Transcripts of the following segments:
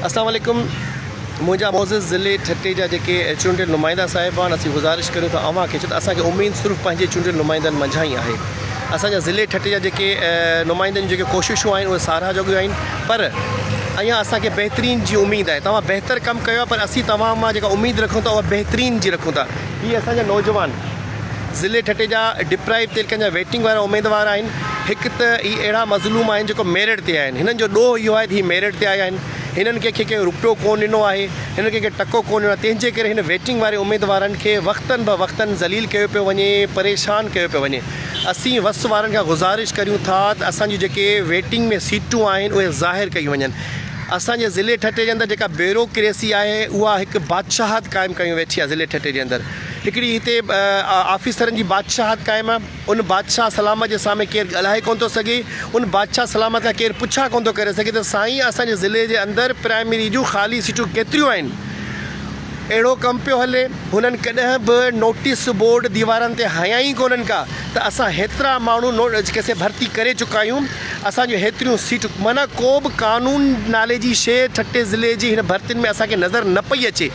اسلام عليڪم منهنجا معزز ضلعي ٺٽي جا جيڪي چونڊيل نمائندا صاحبان اسين گذارش ڪريون ٿا اوهان کي ڇو ته اسان کي اميد صرف پنهنجي چونڊيل نمائندن منجهان ئي آهي اسان جا ضلعي ٺٽي جا جيڪي نمائندن جون جيڪي ڪوششون آهن اهي ساراهه جوڳيون آهن پر اڃا اسان کي بهترين جي اميد آهي توهان بهتر ڪم ڪيو آهي پر اسين توهان مان جيڪا اميد رکون ٿا اها بهترين جي رکون ٿا هي اسان جا نوجوان ضلعي ٺٽي جا ڊپرائيوڊ تيلڪن جا ويٽنگ وارا اميدوار آهن. هڪ ته هي اهڙا مظلوم آهن جيڪو ميرٽ تي آهن هنن جو ڏوهه اهو آهي ته هي ميرٽ تي آيا آهن هنن ڪنهن کي ڪنهن روپيو ڪو ڏنو آهي هنن ڪنهن کي ٽڪو ڪو ڏنو آهي تنهن جي ڪري هن ويٽنگ واري اميدوارن کي وقتن به وقتن ذليل ڪيو پيو وڃي پريشان ڪيو پيو وڃي اسين وس وارن کان گذارش ڪريون ٿا ته اسان جون جيڪي ويٽنگ ۾ سيٽون آهن اهي ظاهر ڪيون وڃن اسان جي ضلعي ٺٽي جي اندر جيڪا بيورو ڪريسي آهي اها هڪ بادشاهت قائم ڪيون ويٺي آهي ضلعي ٺٽي جي اندر. هڪڙي هتي آفيسرن جي بادشاهت قائم آ، ان بادشاهه سلامت جي سامهين ڪير ڳالهائي ڪونه ٿو سگهي، ان بادشاهه سلامت کان ڪير پڇا ڪونه ٿو ڪري سگهي ته سائين اسان جي ضلعي جي اندر پرائمري جون خالي سيٽون ڪيتريون آهن؟ اهڙو ڪم پيو هلي، هنن ڪڏهن به نوٽيس بورڊ ديوارن تي هنيا ئي ڪونهن ڪا ته اسان هيترا ماڻهو نوٽيس ڀرتي ڪري چڪا آهيون، اسان جون هيتريون سيٽون معنيٰ ڪو به قانون نالي جي شيء ٺٽي ضلعي جي هن ڀرتين ۾ اسان کي نظر نه پئي اچي.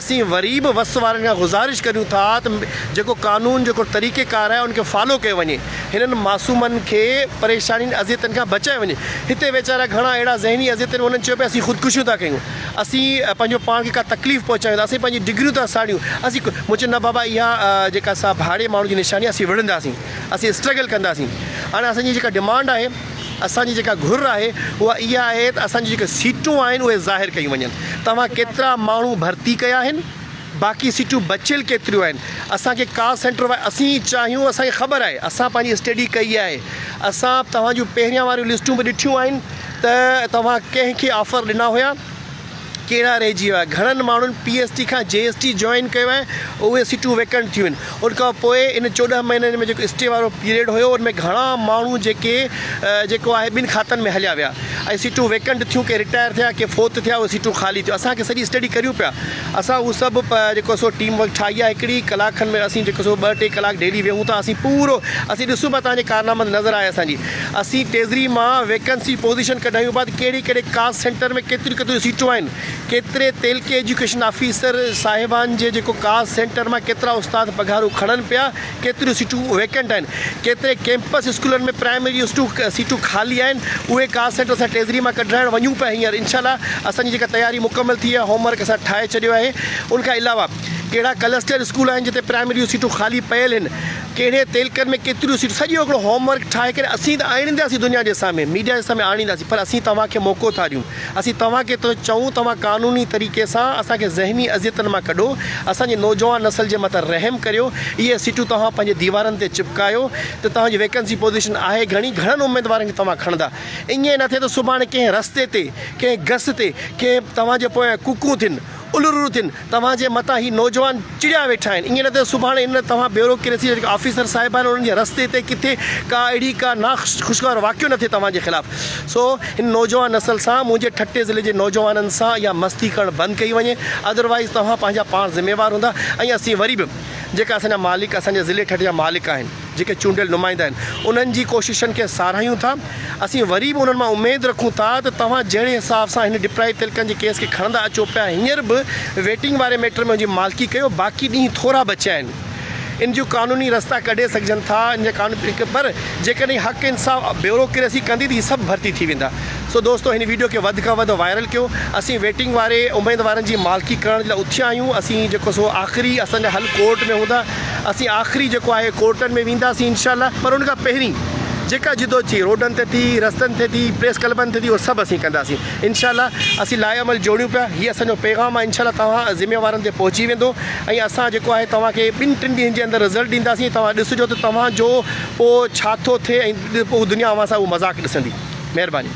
اسين وري به وس وارن کان گذارش ڪريون ٿا ته جيڪو قانون جيڪو طريقي ڪار آهي ان کي فالو ڪيو وڃي هنن معصومن کي پريشانين اذيتن کان بچايو وڃي هتي ويچارا گهڻا اهڙا ذهني اذيتن ۾ انهن چيو پيا اسين خودڪشيون ٿا ڪيون اسين پنهنجو پاڻ کي ڪا تڪليف پهچايون ٿا اسين پنهنجي ڊگريون ٿا ساڙيون اسين مون چيو نه بابا اها جيڪا سا ڀاڙي ماڻهو جي نشاني اسين وڙهنداسين اسين اسٽرگل ڪنداسين هاڻي اسان جي جيڪا ڊمانڊ آهي اسان جي جيڪا گهر آهي اها اها آهي ته اسان جون جيڪي سيٽون آهن اهي ظاهر ڪيون وڃن توهان ڪيترا ماڻهو ڀرتي ڪيا آهن باقي سيٽون بچيل ڪيتريون آهن اسان کي ڪال سينٽر وائي اسين چاهيون اسان کي خبر آهي اسان پنهنجي اسٽيڊي ڪئي آهي اسان توهان جون پهريان واريون لسٽون به ڏٺيون آهن ته توهان ڪنهن کي آفر ڏنا هيا. ڪهڙا رهجي ويا. گهڻن ماڻهن پي ايس ٽي کان جي ايس ٽي جوائن ڪيو آهي اهي سيٽون ويڪنٽ ٿيون آهن ان کان پوء ان چوڏهن مهينن ۾ جيڪو اسٽي وارو پيريڊ هيو ان ۾ گهڻا ماڻهو جيڪي جيڪو آهي ٻن کاتن ۾ هليا ويا ۽ سيٽون ويڪنٽ ٿيون ڪي رٽائر ٿيا ڪي فوت ٿيا اهي سيٽون خالي ٿيون اسان کي سڄي اسٽڊي ڪريون پيا اسان اهو سڀ جيڪو سو ٽيم ورڪ ٺاهي آهي هڪڙي ڪلاڪ کن ۾ اسين جيڪو سو ٻه ٽي ڪلاڪ ڊيلي ويهون ٿا اسين پورو اسين ڏسون پيا تنهنجي ڪارنامن نظر آهي اسانجي اسين ٽيزري مان ويڪنسي پوزيشن ڪڍايون بعد ڪهڙي ڪهڙي ڪاسٽ سينٽر ۾ ڪيتريون ڪيتريون سيٽون آهن ڪيتري تعلقي ايجوڪيشن آفيسر صاحبان جي جيڪو ڪاسٽ سينٽر مان ڪيترا استاد پگهارون کڻن پيا ڪيتريون سيٽون ويڪنٽ آهن ڪيتري ڪيمپس اسڪولن ۾ پرائمري اسٽون سيٽون خالي آهن اهي ڪاسٽ سينٽر اسان ٽيزري مان ڪڍرائڻ وڃون پيا هينئر انشاء الله اسان جي جيڪا تياري مڪمل ٿي وئي آهي هوم ورڪ اسان ٺاهي ڇڏيو آهي ان کان علاوه ڪهڙا ڪلسٽر اسڪول آهن جتي پرائمري جون سيٽون خالي پيل هن ڪهڙي تعلقن ۾ ڪيتريون سيٽون سڄو هڪڙو هوم ورڪ ٺاهي ڪري اسين ته آڻينداسين دنيا جي سامهين ميڊيا جي سامهين آڻينداسين پر اسين توهان کي موقعو ٿا ڏيون اسين توهان کي ٿو چئون توهان قانوني طريقي سان اسان کي ذهني اذيتن مان ڪڍو اسان جي نوجوان نسل جي مٿان رحم ڪريو اهي سيٽون توهان پنهنجي ديوارن تي چپڪايو ته توهان جي ويڪنسي پوزيشن آهي گهڻي گهڻن اميدوارن کي توهان کڻندا ائين نه ٿئي ته سڀاڻي ڪنهن رستي تي ڪنهن گس تي ڪنهن توهان جي پويان ڪوڪون ٿين الرور ٿين توهان جي متان هي نوجوان چڙيا ويٺا آهن ايئن نه ته سڀاڻي ان توهان بيورو کي رسي جيڪا آفيسر صاحب آهن انهن جي رستي تي ڪٿي ڪا اهڙي ڪا نا خوشگوار واقعو نه ٿئي توهان جي خلاف سو هن نوجوان نسل سان منهنجي ٺٽي ضلعي جي نوجوانن سان اها مستي ڪرڻ بند ڪئي وڃي ادروائيز توهان پنهنجا پاڻ ذميوار هوندا ۽ اسين وري به جيڪا اسان جا مالڪ اسان جي ضلعي ٺٽي جا مالڪ آهن. جيڪي چونڊيل نمائندا آهن انهن جي ڪوششن کي ساراهيون ٿا اسين وري به انهن مان اميد رکون ٿا ته توهان جهڙي حساب سان هن ڊپرائيو تلڪن جي ڪيس کي کڻندا اچو پيا هينئر به ويٽنگ واري ميٽر ۾ ان جي مالڪي ڪيو باقي ڏينهن ٿورا بچيا آهن ان جون قانوني رستا ڪڍي سگهجن ٿا ان جا قانوني پر جيڪڏهن حق انصاف بيوروڪريسي ڪندي ته هي سڀ ڀرتي ٿي ويندا سو دوستو هن ويڊيو کي وڌ کان وڌ وائرل ڪيو اسين ويٽنگ واري اميدوارن جي مالڪي ڪرڻ جي لاء اٿيا آهيون اسين جيڪو سو آخري اسان جا حل ڪورٽ ۾ هوندا اسين آخري جيڪو آهي ڪورٽن ۾ وينداسين انشاء الله پر ان کان پهرين جيڪا جدوجھي روڊن تي ٿي، رستن تي ٿي، پريس ڪلبن تي ٿي اهو سڀ اسين ڪنداسين انشاء الله اسين لائحه عمل جوڙيون پيا هي اسان جو پيغام آهي انشاء الله توهان ذميوارن تي پهچي ويندو ۽ اسان جيڪو آهي توهان کي ٻن ٽن ڏينهن جي اندر رزلٽ ڏينداسين ۽ توهان ڏسجو ته توهان جو پوء ڇا ٿو ٿئي ۽ پوء دنيا اوهان سان اهو مذاق ڏسندي مهرباني.